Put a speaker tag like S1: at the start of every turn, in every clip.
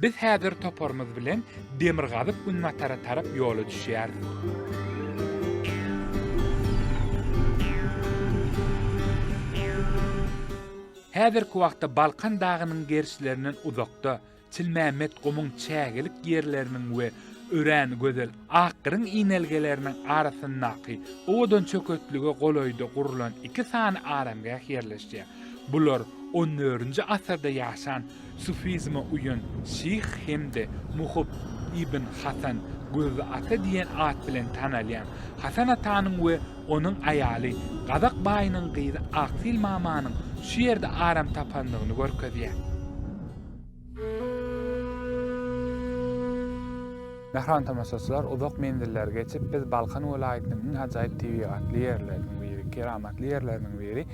S1: Biz häzir toparymyz bilen demirgazyk-günbatara tarap ýola düşýäris. Häzirki wagtda Balkan dagynyň gerşilerinden uzakda, Çilmämmet gumuň çägelik ýerleriniň we örän gözel akgyryň inelgeleriniň arasyndaky owadan çöketlige golaýda gurlan iki sany aramgäh ýerleşýär. Bular onörinji asyrda ýaşan sufizme uýan şyh hem-de muhyp ibn Hasan Gözli ata diýen at bilen tanalýan Hasan atanyň we onuň aýaly gazak baýynyň gyzy Aksil mamanyň şu ýerde aram tapandygyny görkezýär. Mähriban tomaşaçylar, uzak menzilleri geçip, biz Balkan welaýatynyň iň ajaýyp tebigatly ýerleriniň biri, keramatly ýerleriniň biri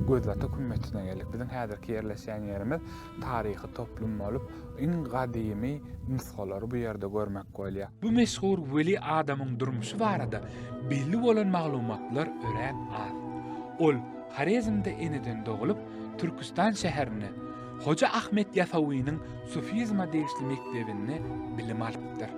S1: Gözbatak hümmetsine geldik. Biziň häzirki ýerleşýän ýerimiz taryhy toplum bolup, iň gadymy nusgalary bu ýerde görmek bolýar. Bu meşhur weli adamyň durmuşy barada belli bolan maglumatlar örän az. Ol Horezmde eneden doglup, Türküstan şäherinde, Hoja Ahmet Ýasawynyň sufizme degişli mekdebinde bilim alypdyr.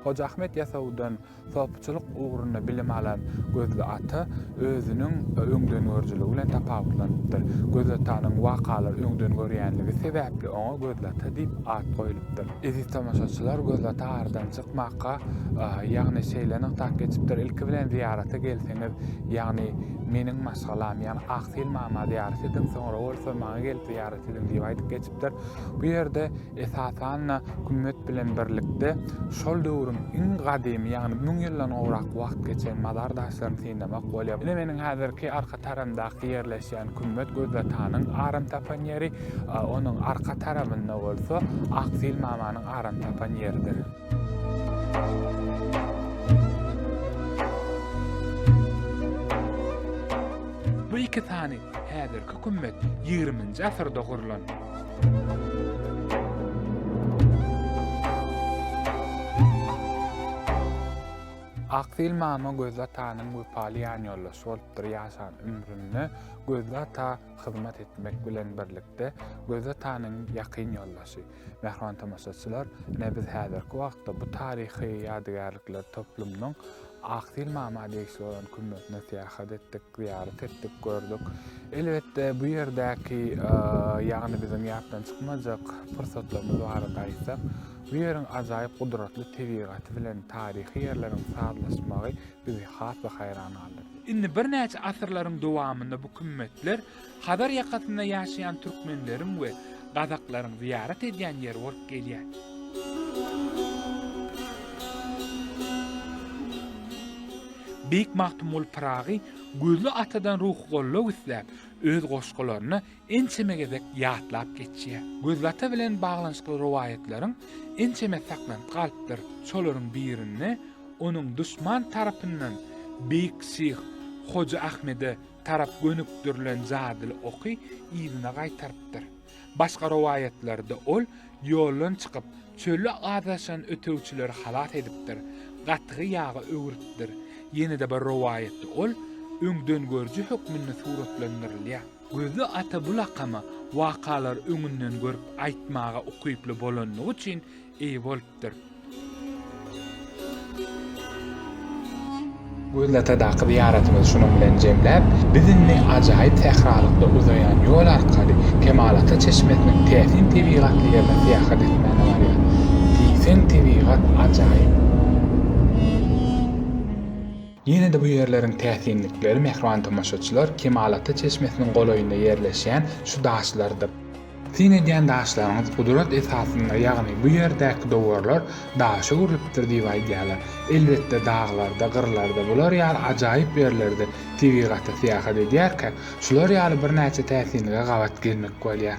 S1: Hoja Ahmet Ýasawydan sopyçylyk ugrunda bilim alan Gözli ata özüniň öňdengörüjiligi bilen tapawutlanypdyr. Gözli atanyň wakalary öňden görýänligi sebäpli oňa Gözli ata diýip at goýlupdyr. Eziz tomaşaçylar, Gözli ata aradan çykmaka, ýagny şeýle nygtap geçipdir, Ilki bilen zyýarata gelseňiz, ýagny meniň maşgalam, ýagny Aksil mama zyýarat ediň, soňra bolsa maňa gelip, zyýarat edin diýip aýdyp geçipdir. Bu ýerde esasan-da gümmet bilen birlikde şol döwrüň iň gadymy, ýagny müň ýyldan gowrak wagt geçen mazar daşlaryny synlamak bolýar. Ine meniň häzirki arka tarandaki ýerleşýän gümmet Gözatanyň aram tapan ýeri, onuň arka tarabynda bolsa Aksil mamanyň aram tapan ýeridir. Bu iki sany häzirki kümmet ýigriminji asyrda gurlan. Akdyl mama Gözli atanyň wepaly ýanýoldaşy bolupdyr ýaşan ömründe Gözli ata hyzmat etmek bilen birlikde Gözli atanyň ýakyn ýoldaşy. Mähriban tomaşaçylar, ine biz häzirki wagtda bu taryhy ýadygärlikler toplumynyň Aksil mama degişli bolan kümmetine syýahat etdik, zyýarat etdik, gördük. Elbetde bu ýerdäki, ýagny biziň ýatdan çykmajak pursatlarymyz barada aýtsak, bu ýeriň ajaýyp gudratly tebigaty bilen taryhy ýerleriň sazlaşmagy bizi has-da haýran galdyrdy. Indi birnäçe asyrlaryň dowamynda bu kümmetler Hazar ýakasynda ýaşaýan türkmenleriň we gazaklaryň zyýarat edýän ýeri bolup gelýär. Beýik Magtymguly Pyragy Gözli atadan ruhy goldaw isläp, öz goşgularyna ençeme gezek ýatlap geçýär. Gözlata bilen baglanyşykly rowaýatlaryň ençemesi saklanyp galypdyr, şolaryň birinde onuň duşman tarapyndan beýik şyh Hoja Ahmede tarap gönükdirilen jadyly oky yzyna gaýtarypdyr. Başga rowaýatlarda ol ýoldan çykyp, çölde azaşan ötegçileri halas edipdir, gatygy ýaga öwrüpdir. Ýene-de bir rowaýatda ol öňdengörüji hökmünde suratlandyrylýar. Gözli ata bu lakamy wakalar öňünden görüp aýtmaga ukyply bolanlygy üçin eýe bolupdyr. Gözli atadaky zyýaratymyzy şunuň bilen jemläp, biz indi ajaýyp sähralykda uzaýan ýol arkaly Kemalata çeşmesiniň täsin tebigatly ýerine syýahat etmäne barýas. Diýseň tebigat ajaýyp. Ýene-de bu ýerleriň täsinlikleri, mähriban tomaşaçylar, Kemalata çeşmesiniň golaýynda ýerleşýän şu daşlardyr. Syn edýän daşlaryňyz gudrat esasynda, ýagny bu ýerdäki dowarlar daşa öwrülipdir diýip aýdýarlar. Elbetde, daglarda, gyrlarda bular ýaly ajaýyp ýerlerde tebigata syýahat edýärkä, şular ýaly birnäçe täsinlige gabat gelmek bolýar.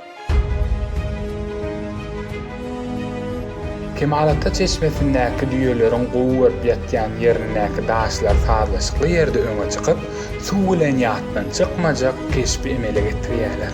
S1: Kemalata çeşmesindäki düýeleriň gowup ýatýan ýerindäki daşlar sazlaşykly ýerde öňe çykyp, suw bilen ýatdan çykmajak keşbi emele getirýärler.